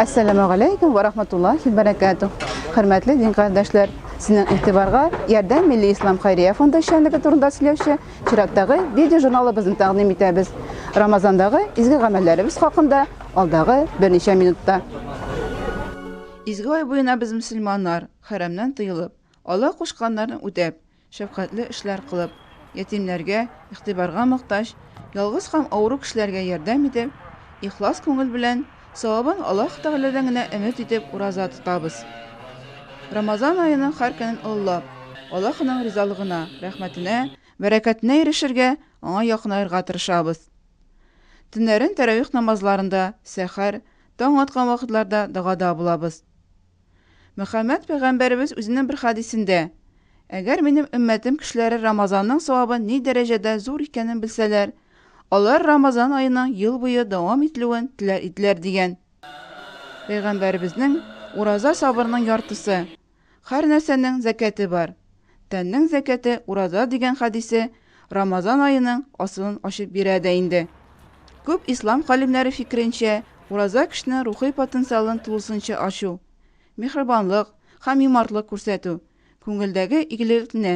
Әссәләмә галәйкүм вә рахматуллахи бәрәкәтү. Хөрмәтле дин кардәшләр, сезнең игътибарга Ярдәм милли ислам хәйрия фонды эшчәнлеге турында сөйләүче чираттагы видеожурналыбызны тәкъдим итәбез. Рамазандагы изге гамәлләребез хакында алдагы берничә минутта. Изге ай буена без мөселманнар, хәрәмнән тыелып, Алла кушканнарын үтәп, Шәфкатьле эшләр кылып, ятимнәргә, игътибарга мохтаҗ, ялгыз һәм авыру кешеләргә ярдәм итеп, ихлас күңел белән, савабын Аллаһ Тәгаләдән генә өмет итеп ураза тотабыз. Рамазан аеның һәр көнен олылап, Аллаһының ризалыгына, рәхмәтенә, бәрәкәтенә ирешергә, Аңа якынаерга тырышабыз. Төннәрен тәравих намазларында, сәхәр, таң аткан вакытларда догада булабыз. Мөхәммәд пәйгамбәребез үзенең бер хәдисендә, Әгәр минем өммәтем кешеләре Рамазанның савабы ни дәрәҗәдә зур икәнен белсәләр, алар Рамазан аеның ел буе дәвам ителүен теләр иделәр, дигән. Пәйгамбәребезнең, Ураза сабырның яртысы, һәр нәрсәнең зәкяте бар. Тәннең зәкяте ураза дигән хәдисе Рамазан аеның асылын ачып бирә дә инде. Күп ислам галимнәре фикеренчә, ураза кешенең рухи потенциалын тулысынча ачу, миһрабанлык һәм юмартлык күрсәтү, күңелдәге игелеклне,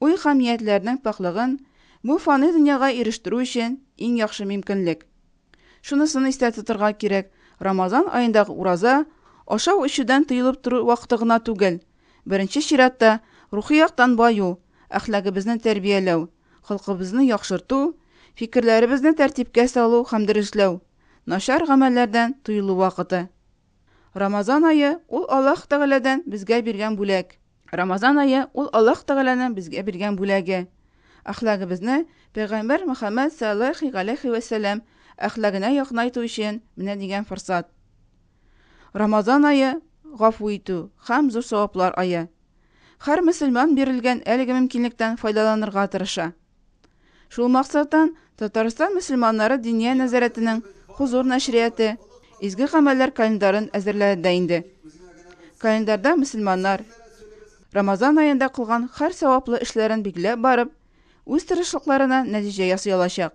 уй һәм ниятләрнең пакьлыгын бу фани дөньяга ирештерү өчен иң яхшы мимкинлек. Шунысын истә тотырга кирәк, Рамазан аендагы ураза, ашау-эчүдән тыелып тору вакыты гына түгел, Беренче чиратта, рухи яктан баю, әхлагыбызны тәрбияләү, холкыбызны яхшырту, фикерләребезне тәртипкә салу һәм дөресләү, начар гамәлләрдән тыелу вакыты. Рамазан ае, ул Аллаһ Тәгаләдән безгә биргән бүләк. Рамазан ае, ул Аллаһ Тәгаләнең безгә биргән бүләге. Әхлагыбызны Пәйгамбәр Мөхәммәд сәлләллаһи галәйһи вә сәлләм әхлагенә якынайту өчен менә дигән форсат. Рамазан ае, гафу итү һәм зур саваплар ае. Һәр мөселман бирелгән әлеге мөмкинлектән файдаланырга тырыша. Шул максаттан Татарстан мөселманнары Диния нәзарәтенең Хозур нәшрияты Изге гамәлләр календарын әзерләде инде. Календарьда мөселманнар Рамазан аенда кылган һәр саваплы эшләрен билгеләп барып, үз тырышлыкларына нәтиҗә ясый алачак.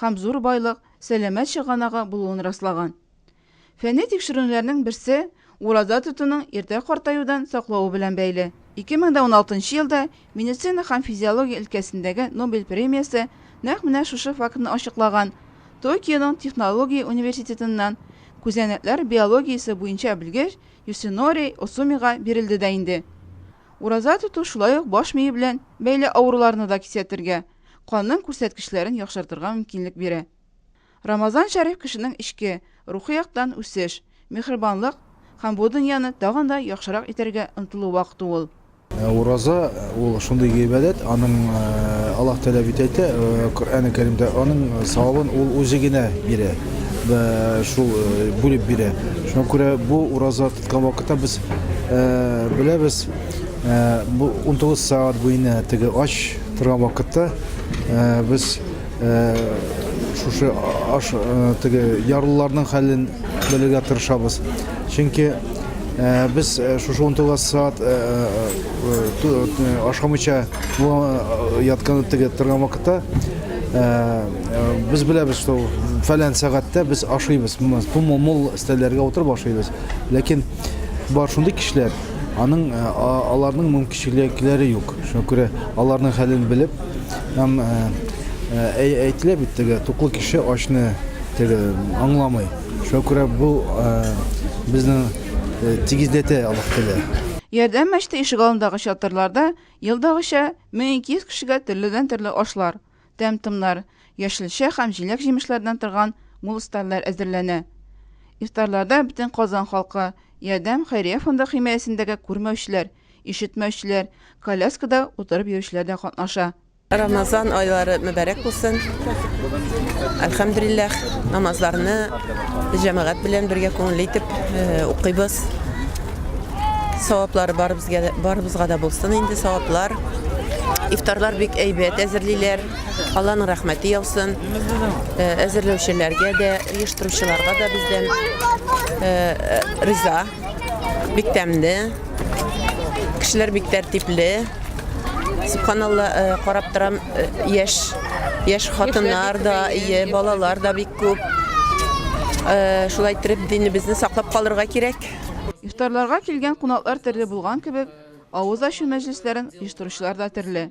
һәм зур байлык, сәламәт чыганагы булуын раслаган. Фәнни тикшеренүләрнең берсе ураза тотуның иртә картаюдан саклавы белән бәйле. 2016 нчы елда медицина һәм физиология өлкәсендәге Нобель премиясе нәкъ менә шушы фактны ачыклаган, Токионың технология университетыннан күзәнәкләр биологиясе буенча белгеч Юсинори Осумига бирелде дә инде. Ураза тоту шулай ук баш мие белән бәйле авыруларны да кисәтергә, канның күрсәткечләрен яхшыртырга мөмкинлек бирә. Рамазан шәриф кешенең эчке, рухи яктан үсеш, миһербанлык һәм бу дөньяны тагын да яхшырак итәргә омтылу вакыты ул. Ә ураза, ул шундый гыйбадәт, аның Аллаһ Тәгалә бит әйтә, Коръәне Кәримдә, аның савабын Ул үзе генә бирә, бә, шул, бүлеп бирә. Шуңа күрә бу ураза тоткан вакытта без беләбез, бу унтугыз сәгать буена теге ач, Торган вакытта без шушы аш теге ярлыларның хәлен белергә тырышабыз. Чөнки без шушы 19 саат ашамыйча яткан теге торган вакытта без беләбез, что фәлән сәгатьтә без ашыйбыз. Тумыл мул стәлләргә утырып ашыйбыз. Ләкин бар шундый кешеләр, аның аларның Чиләкләре юк. Шуңа күрә аларның хәлен белеп һәм әйтелә бит теге туклы кеше ачны теге аңламый. Шуңа күрә бу безнең тигезләтә алып килә. Ярдәм мәчете ишегалындагы чатырларда елдагыча 1200 кешегә төрледән-төрле ашлар, тәм-томнар, яшелчә һәм җиләк-җимешләрдән торган мул стальләр әзерләнә. Ифтарларда бөтен Казан халкы, Ярдәм хәйрия фонды химаясендәге күрмәүчеләр, ишетмәүчеләр, коляскада утырып йөрүчеләр дә катнаша. Рамазан айлары мөбарәк булсын! Әлхәмдүлилләһ, намазларны җәмәгать белән бергә күңелле итеп укыйбыз. Саваплары барыбызга да, барыбызга да булсын инде саваплар. Ифтарлар бик әйбәт әзерлиләр. Алланың рәхмәте яусын. Э, Әзерләүчеләргә дә, оештыручыларга да бездән э, э, риза. Бик тәмле. Кешеләр бик тәртипле. Субханалла, э, карап торам, э, яшь яшь хатыннар да, ие, балалар да бик күп. Э, Шулай итеп динебезне саклап калырга кирәк. Ифтарларга килгән кунаклар төрле булган кебек, авыз ачу мәҗлесләрен оештыручылар да төрле.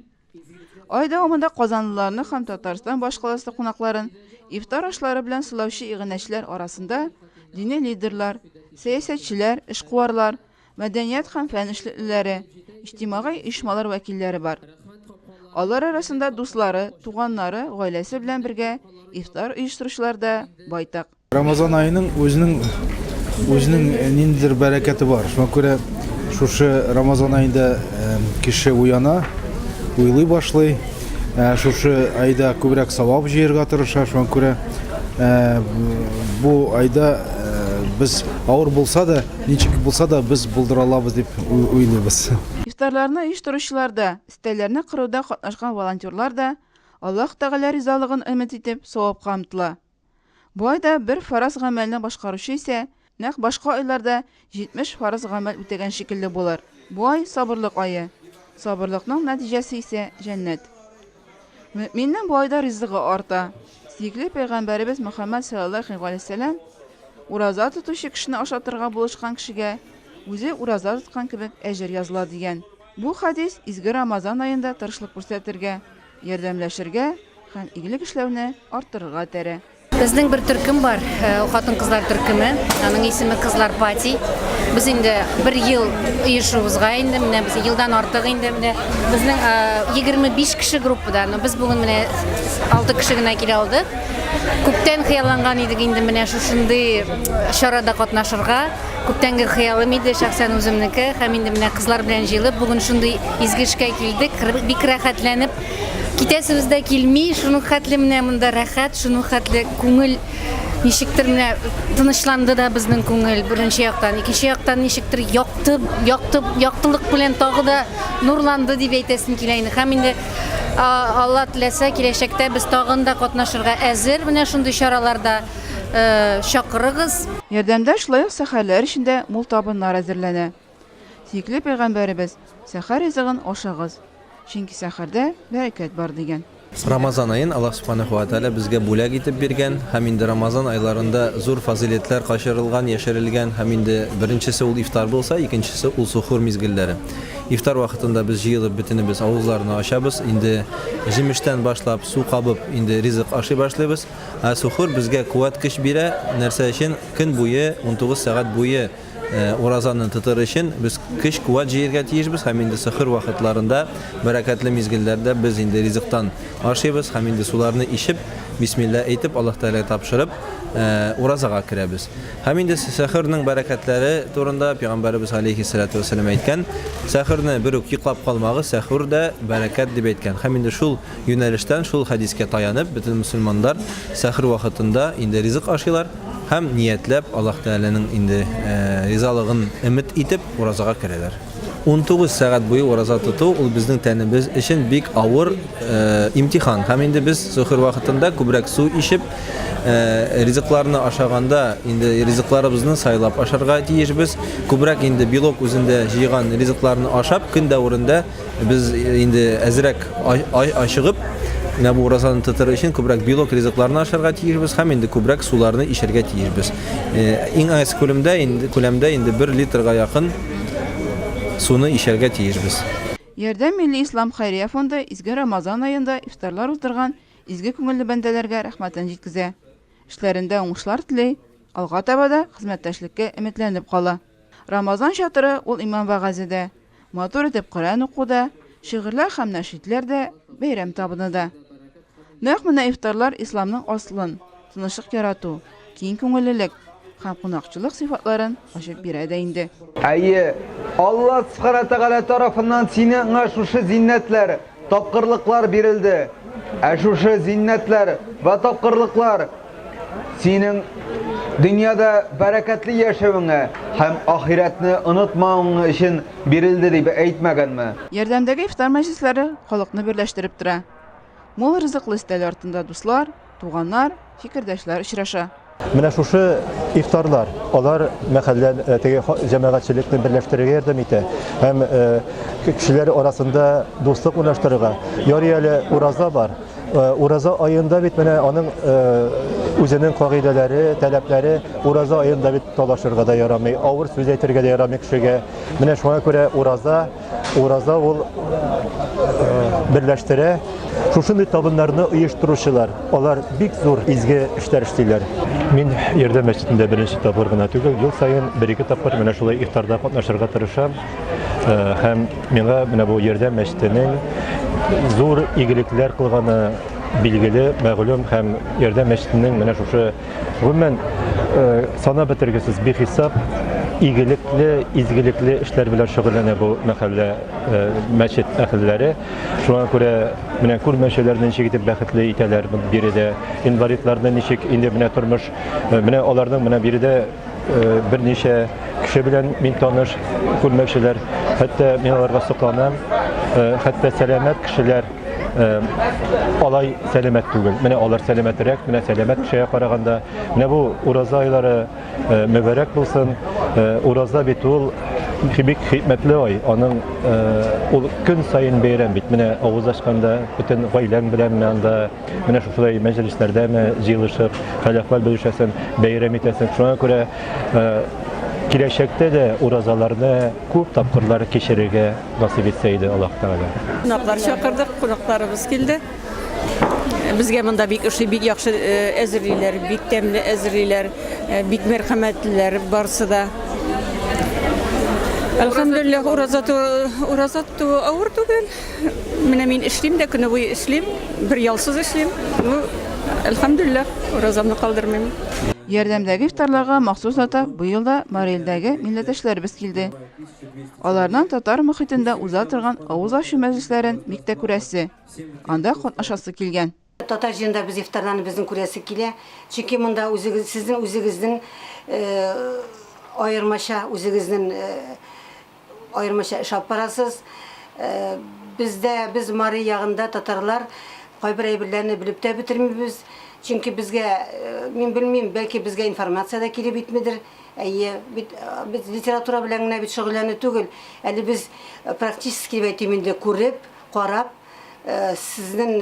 Ай дәвамында казанлыларны һәм Татарстан башкаласы кунакларын ифтар ашлары белән сылаучы иганәчеләр арасында дини лидерлар, сәясәтчеләр, эшкуарлар, мәдәният һәм фән эшлеклеләре, иҗтимагый оешмалар вәкилләре бар. Алар арасында дуслары, туганнары, гаиләсе белән бергә ифтар оештыручылар да байтак. Рамазан аеның үзенең үзенең ниндидер бәрәкәте бар. Шуңа күрә шушы Рамазан аенда кеше уяна, уйлый башлый. Шушы айда күбрәк савап җыярга тырыша. Шуңа күрә бу айда без авыр булса да, ничек булса да без булдыра алабыз дип уйлыйбыз. Ифтарларны оештыручылар да, өстәлләрне кыруда катнашкан волонтерлар да, Аллаһ Тәгалә ризалыгын өмет итеп, савапка омтыла. Болай да бер фарыз гамәлне башкаручы исә нәкъ башка айларда 70 фарыз гамәл үтәгән шикелле булыр. Бу ай сабырлык ае. Сабырлыкның нәтиҗәсе исә җәннәт. Мөэминнең бу айда ризыгы арта. Сөекле пәйгамбәребез Мөхәммәд саллаллаху алейһи вәсәләм ураза тотучы кешене ашатырга булышкан кешегә үзе ураза тоткан кебек әҗер языла дигән. Бу хәдис изге Рамазан аенда тырышлык күрсәтергә, ярдәмләшергә һәм игелек эшләүне арттырырга этәрә. Безнең бер төркем бар, э, хатын-кызлар төркеме. Аның исеме Кызлар пати. Без инде бер ел оешуыбызга инде, менә без елдан артык инде менә безнең 25 э, кеше группада, но без бүген менә 6 кеше генә килә алдык. Күптән хыялланган идек инде менә шушындый э, чарада катнашырга. Күптәнге хыялым иде шәхсән үземнеке һәм инде менә кызлар белән җыелып бүген шундый изге эшкә килдек. Бик рәхәтләнеп китәсебез дә килми. Шуның хәтле менә монда рәхәт, шуның хәтле күңел ничектер менә тынычланды да безнең күңел беренче яктан. Икенче яктан ничектер якты, якты, яктылык белән тагы да нурланды дип әйтәсем килә инде. Һәм инде Алла теләсә, киләчәктә без тагын да катнашырга әзер менә шундый чараларда. чакырыгыз. Ярдәмдә шулай ук сәхәрләр өчен дә мул табыннар әзерләнә. Сөекле пәйгамбәребез, Сәхәр ризыгын ашагыз, чөнки сәхәрдә бәрәкәт бар, дигән. Рамазан аен Аллаһ Субханаһу ва Тәгалә безгә бүләк итеп биргән һәм инде Рамазан айларында зур фазыйләтләр качырылган, яшерелгән һәм инде беренчесе ул ифтар булса, икенчесе ул сухур мизгелләре. Ифтар вакытында без җыелып бөтенебез авызларны ачабыз, инде җимештән башлап, су кабып, инде ризык ашый башлыйбыз. Ә сухур безгә куәт көч бирә, нәрсә өчен? Көн буе, унтугыз сәгать буе уразаны тотыр өчен без көч куәт җыергә тиешбез һәм инде сөхүр вакытларында, бәрәкәтле мизгелләрдә без инде ризыктан ашыйбыз һәм инде суларны ичеп, бисмилла әйтеп, Аллаһ Тәгаләгә тапшырып, уразага керәбез. Һәм инде сәхүрнең бәрәкәтләре турында пәйгамбәребез галәйһи салату вәссәлам әйткән, сәхүрне бер үк йоклап калмагыз, сәхүр дә бәрәкәт дип әйткән. Һәм инде шул юнәлештән шул хәдискә таянып, бөтен мөселманнар сәхер вакытында инде ризык ашыйлар һәм ниятләп, Аллаһ Тәгаләнең инде ризалыгын өмет итеп, уразага керәләр. Унтугыз сәгать буе ураза тоту, ул безнең тәнебез өчен бик авыр имтихан. Һәм инде без сөхер вакытында күбрәк су ичеп, ризыкларны ашаганда, инде ризыкларыбызны сайлап ашарга тиешбез. Күбрәк инде белок үзендә җыйган ризыкларны ашап, көн дәверендә Без инде әзрәк ачыгып, менә бу уразаны тотыр өчен күбрәк белок ризыкларны ашарга тиешбез һәм инде күбрәк суларны ишәргә тиешбез. Иң аз күлемдә инде күләмдә инде 1 литрга якын суны ишәргә тиешбез. Ярдәм милли ислам хәйрия фонды изге Рамазан аенда ифтарлар уздырган изге күңелле бәндәләргә рәхмәтен җиткезә, эшләрендә уңышлар тели, алга таба да хезмәттәшлеккә өметләнеп кала. Рамазан чатыры ул иман вәгазе дә, Матур итеп Коръән уку да, шигырьләр һәм нәшидләр дә, бәйрәм табыны да. Нәкъ менә ифтарлар исламның аслын, тынычлык ярату, киң күңеллелек һәм кунакчылык сыйфатларын ачып бирә дә инде. Әйе, Алла Субхана Тәгалә тарафыннан сине ңа шушы зиннәтләр, Тапкырлыклар бирелде. Ә шушы зиннәтләр вә тапкырлыклар синең дөньяда бәрәкәтле яшәвеңә һәм ахирәтне онытмавың өчен бирелде дип әйтмәгәнме? Ярдәмдәге ифтар мәҗлесләре халыкны берләштереп тора. Мул ризыклы өстәл артында дуслар, Туганнар, фикердәшләр очраша. Менә шушы ифтарлар, алар мәхәллә э, теге җәмәгатьчелекне берләштерергә ярдәм итә һәм э, кешеләр арасында дуслык урнаштырырга. Ярый әле ураза бар. Э, ураза аенда бит менә аның үзенең кагыйдәләре, таләпләре ураза аенда бит талашырга да ярамый, авыр сүз әйтергә дә ярамый кешегә. Менә шуңа күрә ураза Ураза ул берләштерә. Шушындый табыннарны оештыручылар, алар бик зур изге эшләр эшлиләр. Мин Ярдәм мәчетендә беренче тапкыр гына түгел, ел саен бер-ике тапкыр менә шулай ифтарда катнашырга тырышам. Һәм миңа менә бу Ярдәм мәчетенең зур игелекләр кылганы билгеле, мәгълүм һәм Ярдәм мәчетенең менә шушы Гомумән, санап бетергесез бихисап игелекле, изгелекле эшләр белән шөгыльләнә бу мәхәллә, мәчет әһелләре. Шуңа күрә менә күрмәүчеләрне ничек итеп бәхетле итәләр биредә, инвалидларны ничек инде менә тормыш, менә аларның менә биредә берничә кеше белән мин таныш, күрмәүчеләр. Хәтта мин аларга сокланам. Хәтта сәламәт кешеләр, алай сәламәт түгел. Менә алар сәламәтрәк, менә сәламәт кешегә караганда. Менә бу ураза айлары мөбарәк булсын. Ураза бит ул бик хикмәтле ай. Аның ул көн саен бәйрәм бит. Менә авыз ачканда бөтен гаиләң белән анда, менә шушылай мәҗлесләрдә ме җыелышып, хәл-әхвәл белешәсең, бәйрәм итәсең. Шуңа күрә киләчәктә дә уразаларны күп тапкырлар кичерергә насыйп итсә иде аллаһ тәгалә кунаклар чакырдык кунакларыбыз килде безгә монда бик ошый бик яхшы әзерлиләр бик тәмле әзерлиләр бик мәрхәмәтлеләр барысы да Әлхәмдулиллах, ураза ураза туу авыр түгел. Менә мин эшлим дә, көне буе эшлим, бер ялсыз эшлим. Ну, әлхәмдулиллах, уразамны калдырмыйм. Ярдәмдәге ифтарларга махсус ата быел да Марилдәге милләттәшләребез килде. Аларның татар мөхитендә уза торган авыз ачу мәҗлесләрен бик тә күрәсе, анда катнашасы килгән. Татар җыенда без ифтарларны безнең күрәсе килә, чөнки монда үзегез, сезнең үзегезнең аермача, үзегезнең аермача эш алып барасыз. Бездә, без Мари ягында татарлар кайбер әйберләрне белеп тә бетермибез, чөнки безгә, мин белмим, бәлки безгә информация дә килеп итмидер. Әйе, бит без литература белән генә бит шөгыльләнү түгел. Әле без практически дип әйтим инде, күреп, карап, сезнең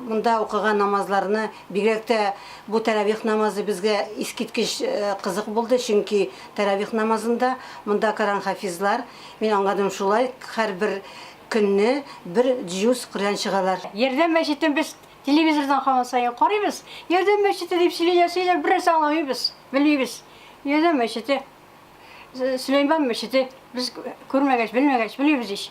монда укыган намазларны, бигрәк тә бу тәравих намазы безгә искиткеч кызык булды, чөнки тәравих намазында монда Коръән хафизлар, мин аңладым шулай, һәрбер көнне бер җюз Коръән чыгалар. Ярдәм мәчетен без Телевизордан һаман саен карыйбыз. Ярдәм мәчете дип сөйли дә сөйли, бернәрсә аңламыйбыз, белмибез. Ярдәм мәчете, Сөләйман мәчете, без күрмәгәч, белмәгәч, белмибез ич.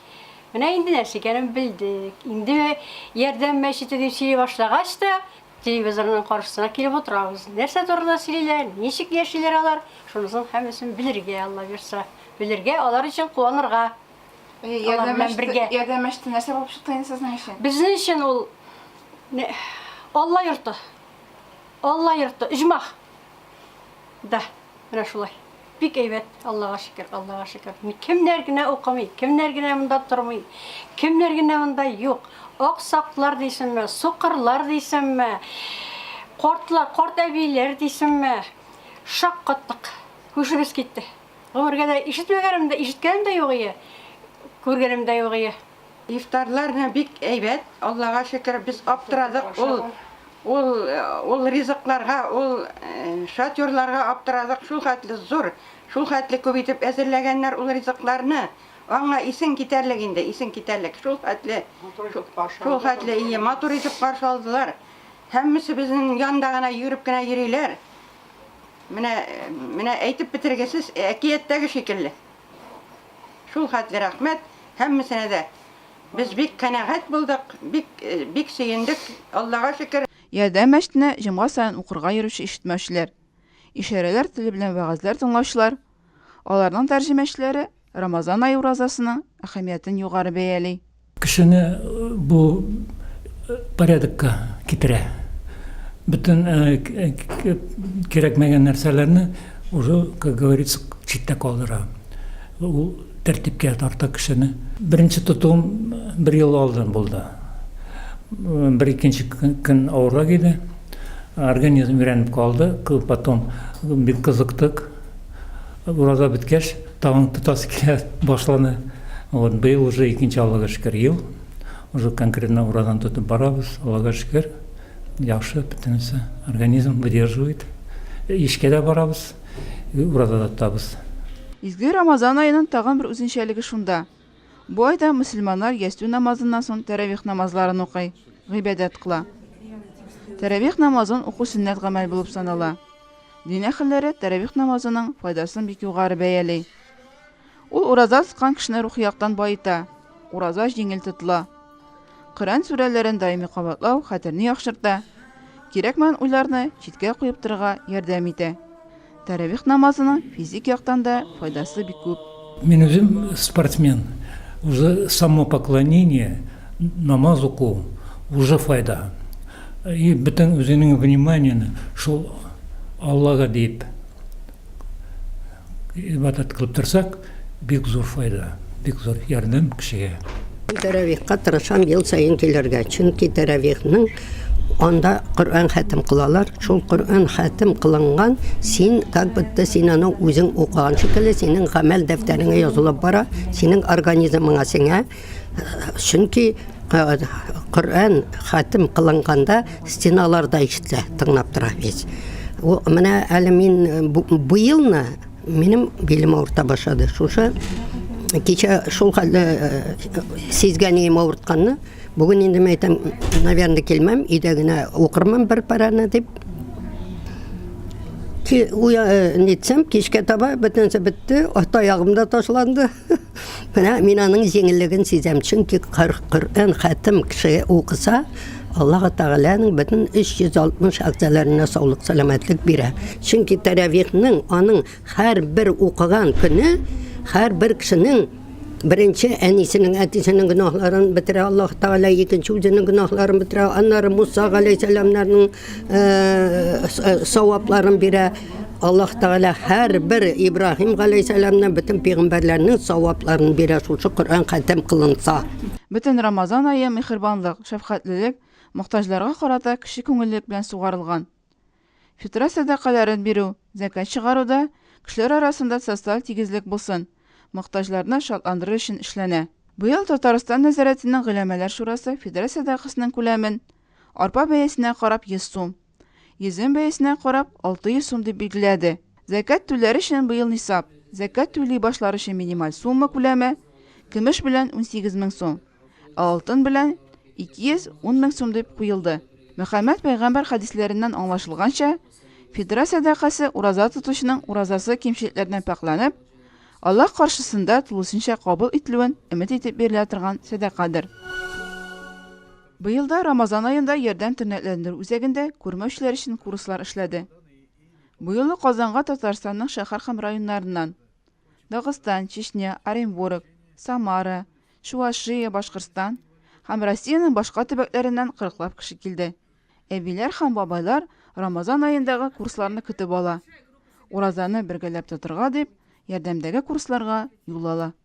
Менә инде нәрсә икәнен белдек. Инде Ярдәм мәчете дип сөйли башлагач та, телевизорның каршысына килеп утырабыз. Нәрсә турында сөйлиләр, ничек яшиләр алар, шунысын һәммәсен белергә, Алла бирса. Белергә, алар өчен куанырга. Ярдәм эште, ярдәм эште нәрсә булып чыкты инде сезнең өчен? Безнең өчен ул Алла йорты. Алла йорты, иҗмах. Да, менә шулай. Бик әйбәт, Аллага шөкер, Аллага шөкер. Кемнәр генә укымый, кемнәр генә монда тормый, кемнәр генә монда юк. Аксаклар дисемме, сукырлар дисемме, кортлар, корт әбиләр дисемме. Шаккаттык. Күшебез китте. Гомергә дә ишетмәгәнем дә, ишеткәнем дә юк ие, күргәнем дә юк ие. Ифтарлар менә бик әйбәт, Аллага шөкер, без аптырадык, ул, ул, ул ризыкларга, ул шатерларга аптырадык, шул хәтле зур, шул хәтле күп итеп әзерләгәннәр ул ризыкларны, аңа исең китәрлек инде, исең китәрлек, шул хәтле, шул хәтле, ие, матур итеп каршы алдылар, һәммәсе безнең янда гына йөгереп кенә йөриләр, Менә, менә әйтеп бетергесез әкияттәге шикелле. Шул хәтле рәхмәт һәммәсенә дә. Без бик канәгать булдык, бик, бик сөендек, Аллага шөкер. Ярдәм мәчетенә җомга саен укырга йөрүче ишетмәүчеләр, ишарәләр теле белән вәгазьләр тыңлаучылар, аларның тәрҗемәчеләре Рамазан ае уразасының әһәмиятен югары бәяли. Кешене бу порядокка китерә. Бөтен кирәкмәгән нәрсәләрне уже, как говорится, читтә калдыра. Ул тәртипкә тарта кешене. Беренче тотуым бер ел алдан булды. Бер икенче көн авыррак иде. Организм өйрәнеп калды. Потом бик кызыктык. Ураза беткәч, тагын тотасы килә башланы. Вот быел уже икенче Аллага шөкер ел. Уже конкретно уразаны тотып барабыз. Аллага шөкер, яхшы бөтенесе. Организм выдерживает. Эшкә дә барабыз, ураза да тотабыз. Изге Рамазан аеның тагын бер үзенчәлеге шунда. Бу айда мөселманнар ястү намазыннан соң тәравих намазларын укый, гыйбадәт кыла. Тәравих намазын уку сөннәт гамәл булып санала. Дин әһелләре тәравих намазының файдасын бик югары бәяли. Ул ураза тоткан кешене рухи яктан баета, ураза җиңел тотыла. Коръән сүрәләрен даими кабатлау хәтерне яхшырта, кирәкмәгән уйларны читкә куеп торырга ярдәм итә. Тәравих намазының физик яктан да файдасы бик күп. Мин үзем спортсмен, уже само поклонение, намаз уку, уже файда. И бөтен үзеңнең вниманиене шул Аллага диеп. Ибадәт кылып торсак, бик зур файда, бик зур ярдәм кешегә. Тәравихка тырышам ел саен килергә, чөнки тәравихның анда Коръән хәтем кылалар, шул Коръән хәтем кылынган, син как будто син аны үзең укыган шикелле, синең гамәл дәфтәреңә язылып бара, синең организмыңа сеңә. чөнки коръән хәтем кылынганда стеналар да ишетелә тыңлап тора весь менә әле мин бу елны минем билем авырта башлады шушы кичә шул хәлдә сизгәнием авыртканны бүген инде мен әйтәм наверное килмәм өйдә генә укырмын бер параны дип нитсәм кичкә таба бөтенесе бетте ата ягым да ташланды Менә мин аның җиңеллеген сизәм, чөнки Коръән хәтем кеше укыса, Аллаһ Тәгаләнең бөтен 360 әгъзаларына саулык сәламәтлек бирә. Чөнки тәравихның аның һәр бер укыган көне һәр бер кешенең Беренче әнисенең, әтисенең гөнаһларын бетерә Аллаһ Тәгалә, икенче үзенең гөнаһларын бетерә, аннары Муса галәйһиссәламнарның савапларын бирә аллаһ тәгалә һәрбер ибраһим галәйһиссәламнең бөтен пигамбәрләрнең савапларын бирә шушы коръән хәтем кылынса Бөтен Рамазан ае мехрибанлык, шәфкатьлелек, мохтаҗларга карата кече күңеллек белән сугарылган. Фитра сәдакаләрен бирү, зәкәт чыгаруда кешеләр арасында социаль тигезлек булсын, мохтаҗларны шатландырыр өчен эшләнә. Быел Татарстан нәзарәтенең Голәмәләр шурасы фитра сәдакасының күләмен Арпа бәясенә карап 100 сум, йөзем бәясенә карап 600 сум дип билгеләде. Зәкят түләр өчен быел нисап, зәкят түли башлар өчен минималь сумма күләме, көмеш белән 18 мең сум, ә алтын белән 210 мең сум дип куелды. Мөхәммәд пәйгамбәр хәдисләреннән аңлашылганча, фитра сәдакасы ураза тотучының уразасы кимчелекләрдән пакьләнеп, Аллаһ каршысында тулысынча кабул ителүен өмет итеп бирелә торган сәдакадыр. Быел да Рамазан аенда Ярдәм тернәкләндерү үзәгендә күрмәүчеләр өчен курслар эшләде. Быелы Казанга Татарстанның шәһәр һәм районнарыннан, Дагыстан, Чечня, Оренбург, Самара, Чуашия, Башкортстан һәм Россиянең башка төбәкләреннән кырыклап кеше килде. Әбиләр һәм бабайлар Рамазан аендагы курсларны көтеп ала, уразаны бергәләп тотырга дип, Ярдәмдәге курсларга юл ала.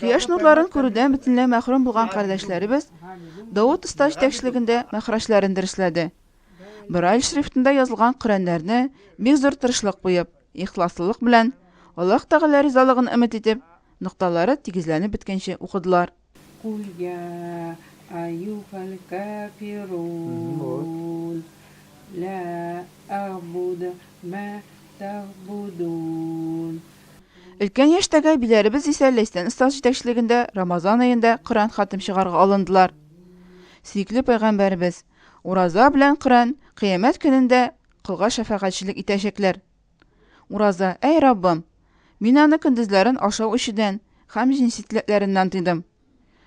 Кояш нурларын күрүдән бөтенләй мәхрүм булган кардәшләребез Давыт оста җитәкчелегендә мәхраҗләрен дөресләде. Брайль шрифтында язылган Коръәннәрне бик зур тырышлык куеп, ихласлылык белән, Аллаһ Тәгалә ризалыгын өмет итеп, нокталары тигезләнеп беткәнче укыдылар. Куль я аюхалькафирун, ла әгъбуду мә тәгъбудун, Өлкән яшьтәге әбиләребез исә Ләйсән остаз җитәкчелегендә Рамазан аенда Коръән хатим чыгарга алындылар. Сөекле пәйгамбәребез, Ураза белән Коръән Кыямәт көнендә колга шәфәгатьчелек итәчәкләр. Ураза, Әй Раббым! Мин аны көндезләрен ашау-эчүдән һәм җенси теләкләреннән тыйдым.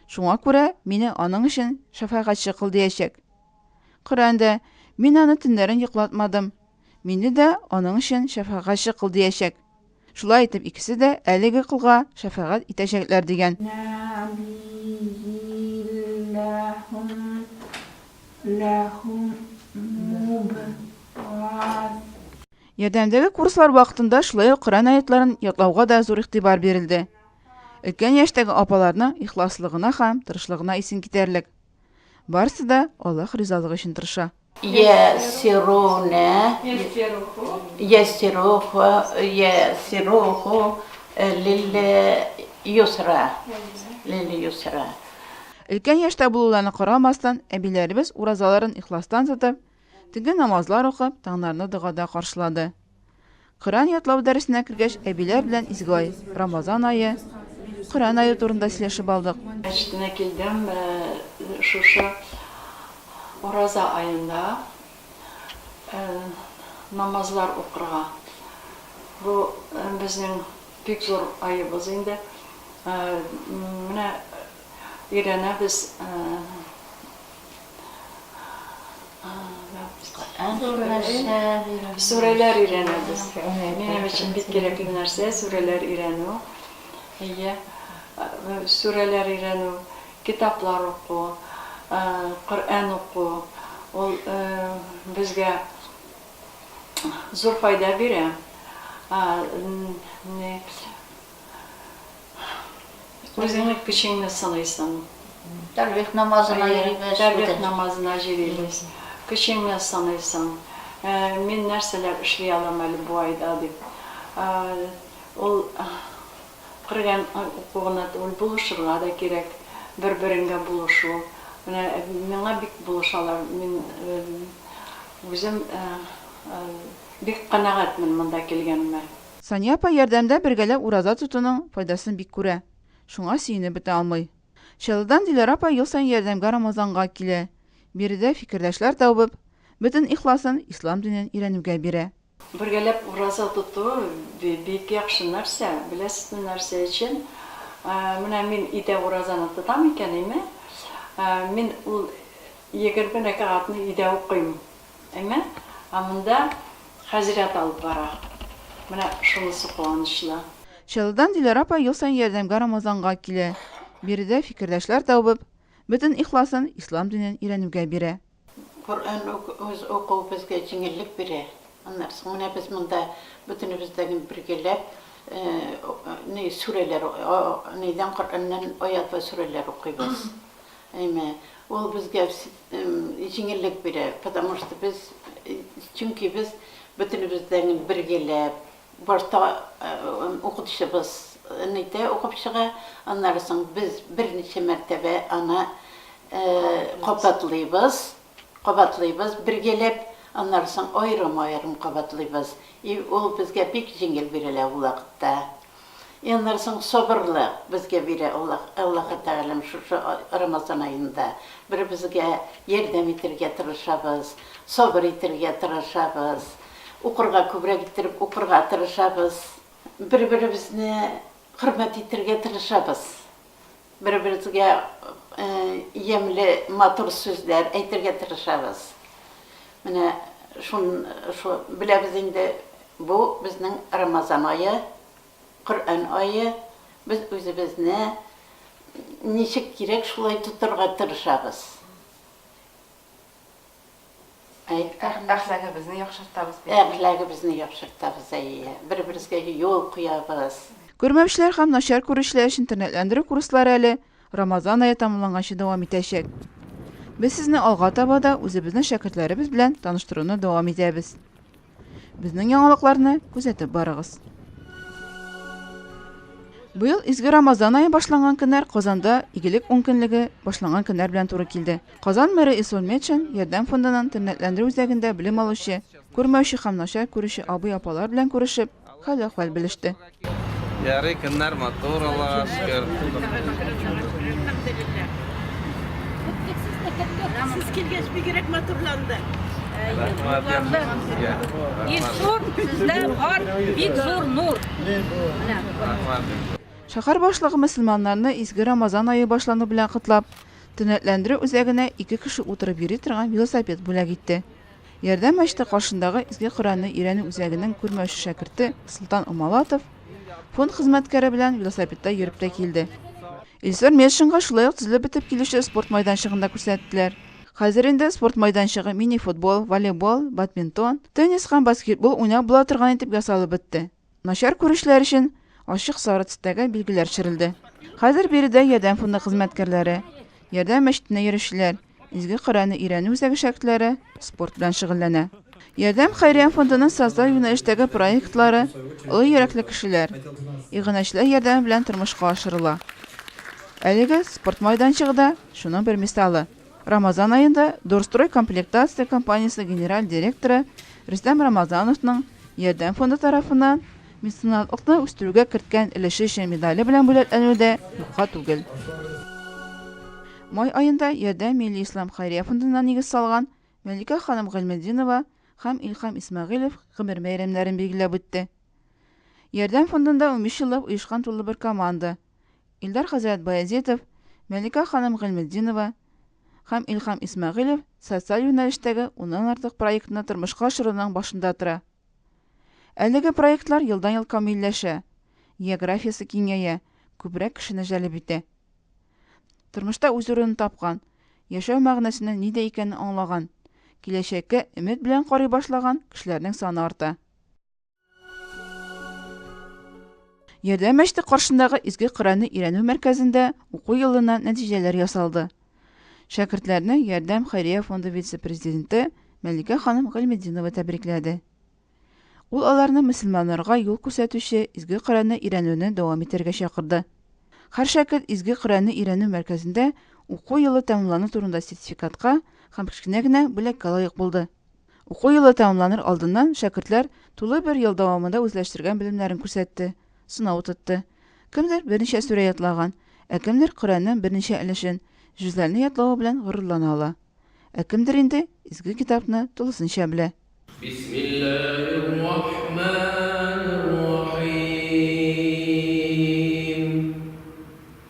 Шуңа күрә мине аның өчен шәфәгатьче кыл диячәк. Коръән дә, Мин аны төннәрен йоклатмадым. Мине дә аның өчен шәфәгатьче кыл диячәк. Шулай итеп, икесе дә әлеге колга шәфәгать итәчәкләр, дигән. Ярдәмдәге курслар вакытында шулай ук Коръән аятларын ятлауга да зур игътибар бирелде. Өлкән яшьтәге апаларның ихласлыгына һәм тырышлыгына исең китәрлек. Барысы да Аллаһ ризалыгы өчен тырыша. Өлкән яшьтә булуларына карамастан, әбиләребез уразаларын ихластан тотып, төнге намазлар укып, таңнарны догада каршылады. Коръән ятлау дәресенә кергәч, әбиләр белән изге ай, Рамазан ае, Коръән ае турында сөйләшеп алдык. Мәчетенә килдем, шушы Ураза аенда намазлар укырга. Бу безнең бик зур аебыз инде. Менә өйрәнәбез. Сүрәләр өйрәнәбез. Минем өчен бик кирәкле нәрсә сүрәләр өйрәнү. Әйе, сүрәләр өйрәнү, китаплар уку, Коръән уку, ул безгә зур файда бирә. Үзеңнең көчеңне сыныйсың. Тәлвих намазына йөрибез. Тәлвих намазына җөрибез. Көчеңне сыныйсың. Мин нәрсәләр эшли алам әле бу айда дип. Ул Коръән укуына түгел, булышырга да кирәк. Бер-береңгә булышу. Менә миңа бик булышалар. Мин үзем бик канәгатьмен монда килгәнемә. Сания апа ярдәмдә бергәләп ураза тотуның файдасын бик күрә, шуңа сөенеп бетә алмый. Чаллыдан Диләрә апа ел саен ярдәмгә Рамазанга килә, биредә фикердәшләр табып, бөтен ихласын ислам динен өйрәнүгә бирә. Бергәләп ураза тоту бик яхшы нәрсә, беләсезме нәрсә өчен? Менә мин өйдә уразаны тотам икән, әйме, мин ул егерме рәкәгатьне өйдә укыйм, Әмма монда хәзрәт алып бара. Менә шунысы куанычлы. Чаллыдан Диләрә апа ел саен ярдәмгә Рамазанга килә. Биредә фикердәшләр табып, бөтен ихласын ислам динен өйрәнүгә бирә. Коръән уку безгә җиңеллек бирә. Аннан соң менә без монда бөтенебез дә бергәләп сүрәләр, нидән, Коръәннән аят вә сүрәләр укыйбыз. Әйме, ул безгә җиңеллек бирә, потому что без, чөнки без бөтенебез дә бергәләп, башта укытучыбыз нитә, укып чыга, аннары соң без берничә мәртәбә аны кабатлыйбыз, кабатлыйбыз бергәләп, аннары соң аерым-аерым кабатлыйбыз, и ул безгә бик җиңел бирелә ул вакытта. И аннан соң сабырлык безгә бирә Аллаһ, Аллаһы Тәгаләм шушы Рамазан аенда. Бер-безгә ярдәм итергә тырышабыз, сабыр итергә тырышабыз, укырга күбрәк иттереп укырга тырышабыз, бер-беребезне хөрмәт итергә тырышабыз. Бер-беребезгә ямьле, матур сүзләр әйтергә тырышабыз. Менә шуны беләбез инде, бу безнең Рамазан ае, Коръән ае. Без үзебезне ничек кирәк, шулай тотарга тырышабыз. Әхләгебезне яхшыртабыз бит. Әхләгебезне яхшыртабыз, әйе. Бер-беребезгә юл куябыз. Күрмәүчеләр һәм начар күрүчеләр өчен тернәкләндерү курслары әле Рамазан ае тәмамланганчы дәвам итәчәк. Без сезне алга таба да үзебезнең шәкертләребез белән таныштыруны дәвам итәбез. Безнең яңалыкларны күзәтеп барыгыз. Быел изге Рамазан айы башланган көннәр Казанда игелек ункөнлеге башланган көннәр белән туры килде. Казан мэры Исрул Метшин Ярдәм фондының тернәкләндерү үзәгендә белем алучы, күрмәүче һәм начар күрүче абый-апалар белән күрешеп, Хәл-әхвәл белеште. Ярый, көннәр матур, Аллага шөкер. Сез килгәч бигрәк матурланды. Ил зур, сездә бар бик зур нур. Шәһәр башлыгы мөселманнарны изге Рамазан ае башлану белән котлап, төнәтләндерү үзәгенә ике кеше утырып йөри торган велосипед бүләк итте. Ярдәм мәчете каршындагы Изге Коръәнне өйрәнү үзәгенең күрмәүче шәкерте Солтан Умалатов фонд хезмәткәре белән велосипедта йөреп тә килде. Илсур Метшинга шулай ук төзелеп бетеп килүче спорт майданчыгын да күрсәттеләр. Хәзер инде спорт майданчыгы мини-футбол, волейбол, бадминтон, теннис һәм баскетбол уйнап була торган итеп ясалып бетте. Начар күрүчеләр өчен ачык сары төстәге билгеләр төшерелде. Хәзер биредә Ярдәм фонды хезмәткәрләре, Ярдәм мәчетенә йөрүчеләр, Изге Коръәнне өйрәнү үзәге шәкертләре спорт белән шөгыльләнә. Ярдәм хәйрия фондының социаль юнәлештәге проектлары олы йөрәкле кешеләр, иганәчеләр ярдәме белән тормышка ашырыла. Әлеге спорт майданчыгы да шуның бер мисалы. Рамазан аенда Дорстрой комплектация компаниясе генераль директоры Рөстәм Рамазановның Ярдәм фонды тарафыннан меценатлыкны үстерүгә керткән өлеше өчен медале белән бүләкләнүе дә юкка түгел. Май аенда Ярдәм милли ислам хәйрия фондына нигез салган Мәликә ханым Гыйльметдинова һәм Илһам Исмәгыйлев гомер бәйрәмнәрен билгеләп үтте. Ярдәм фондында унбиш еллап оешкан тулы бер команда, Илдар хәзрәт Баязитов, Мәликә ханым Гыйльметдинова һәм Илһам Исмәгыйлев социаль юнәлештәге уннан артык проектны тормышка ашыруның башында тора. Әлеге проектлар елдан-ел камилләшә, географиясе киңәя, күбрәк кешене җәлеп итә. Тормышта үз урынын тапкан, яшәү мәгънәсенең нидә икәнен аңлаган, киләчәккә өмет белән карый башлаган кешеләрнең саны арта. Ярдәм мәчете каршындагы Изге Коръәнне өйрәнү мәркәзендә уку елына нәтиҗәләр ясалды. Шәкертләрне Ярдәм хәйрия фонды вице-президенты Мәликә ханым Гыйльметдинова тәбрикләде. Ул аларны мөселманнарга юл күрсәтүче Изге Коръәнне өйрәнүне дәвам итәргә чакырды. Һәр шәкерт Изге Коръәнне өйрәнү мәркәзендә уку елы тәмамлану турында сертификатка һәм кечкенә генә бүләккә лаек булды. Уку елы тәмамланыр алдыннан шәкертләр тулы бер ел дәвамында үзләштергән белемнәрен күрсәтте, сынау тотты. Кемдер берничә сүрә ятлаган, ә кемдер Коръәннең берничә өлешен, җөзләрне ятлавы белән горурлана ала. Ә кемдер инде Изге Китапны тулысынча белә. Бисмиллаһир-рахманир-рахим.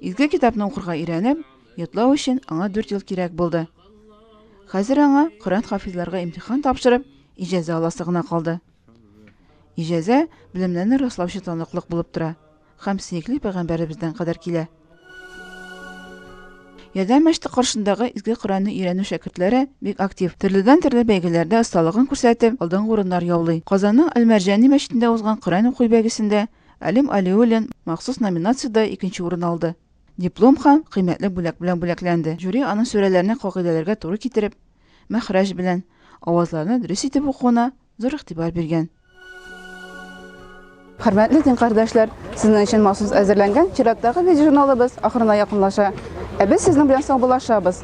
Изге китапны укырга өйрәнеп, йотлау өчен аңа дүрт ел кирәк булды. Хәзер аңа Коръән хафизларга имтихан тапшырып, иҗазә аласы гына калды. Иҗазә белемнәрне раслаучы таныклык булып тора һәм сөекле пәйгамбәребездән кадәр килә. Ярдәм мәчете каршындагы изге Коръәнне өйрәнү шәкертләре бик актив. Төрледән төрле бәйгеләрдә осталыгын күрсәтеп, алдынгы урыннар яулый. Казанның Әл-Мәрҗани мәчетендә узган Коръән уку бәйгесендә Әлим Алиуллин махсус номинациядә икенче урын алды. Диплом һәм кыйммәтле бүләк белән бүләкләнде. Жюри аның сүрәләрне кагыйдәләргә туры китереп, мәхрәҗ белән, авазларны дөрес итеп укуына зур игътибар биргән. Хөрмәтле дин кардәшләр, сезнең өчен махсус әзерләнгән чираттагы видеожурналыбыз ахырына якынлаша. Ә без сезнең белән саубуллашабыз.